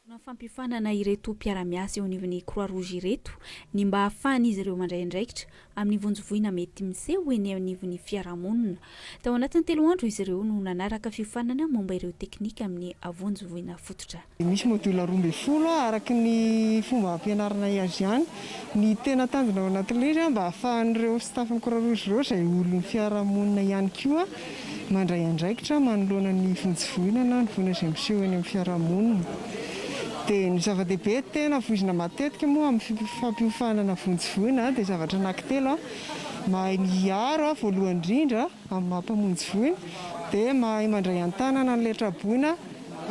Fomba fampifanana ireto mpiara-miasa eo anivon'ny Croix Rouge ireto ny mba hahafahan'izy ireo mandray andraikitra amin'ny vonjy voina mety miseho eny anivon'ny fiarahamonina. Tao anatin'ny telo andro izy ireo no nanaraka fiofanana momba ireo teknika amin'ny vonjy voina fototra. Misy module roa ambin'ny folo araka ny fomba ampianarinay azy ihany. Ny tena tanjona ao anatin'ilay izy mba hahafahan'ireo staff-n'ny Croix Rouge ireo izay olon'ny fiarahamonina ihany koa Mandray andraikitra manoloana ny vonjy voina na ny voina izay miseho eny amin'ny fiarahamonina. Dia ny zava-dehibe tena voizina matetika moa amin'ny fampiofanana vonjy voina dia zavatra anankitelo, mahay miaro voalohany indrindra amin'ny maha mpamonjy voina, dia mahay mandray an-tanana ny letra-boina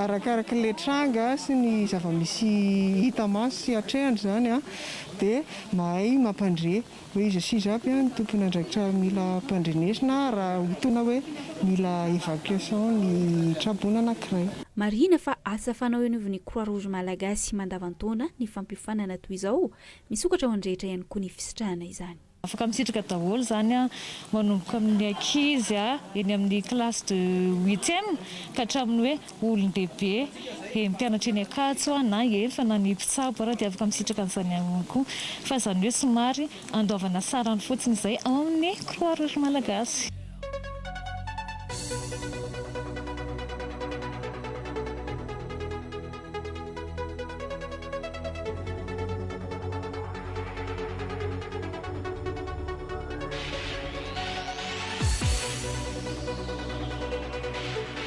arakaraky ilay tranga sy ny zava-misy hita maso sy hatrehina izany, dia mahay mampandre. Hoe iza sy iza aby ny tompon'andraikitra mila ampandrenesina raha hotoana hoe mila evacuation ny traboina anankiray. Marihina fa asa fanao eo anivon'ny Croix Rouge Malagasy mandavan-taona ny fampiofanana toy izao, misokatra ho an'ny rehetra ihany koa ny fisitrahana izany. Afaka misitraka daholo izany manomboka amin'ny ankizy eny amin'ny classe de huitième ka hatramin'ny hoe olon-dehibe, he mpianatra eny Ankatso aho na efa na ny mpitsabo ary dia afaka misitraka an'izany aminy koa. Fa izany hoe somary andoavana sarany fotsiny izay ao amin'ny Croix Rouge Malagasy.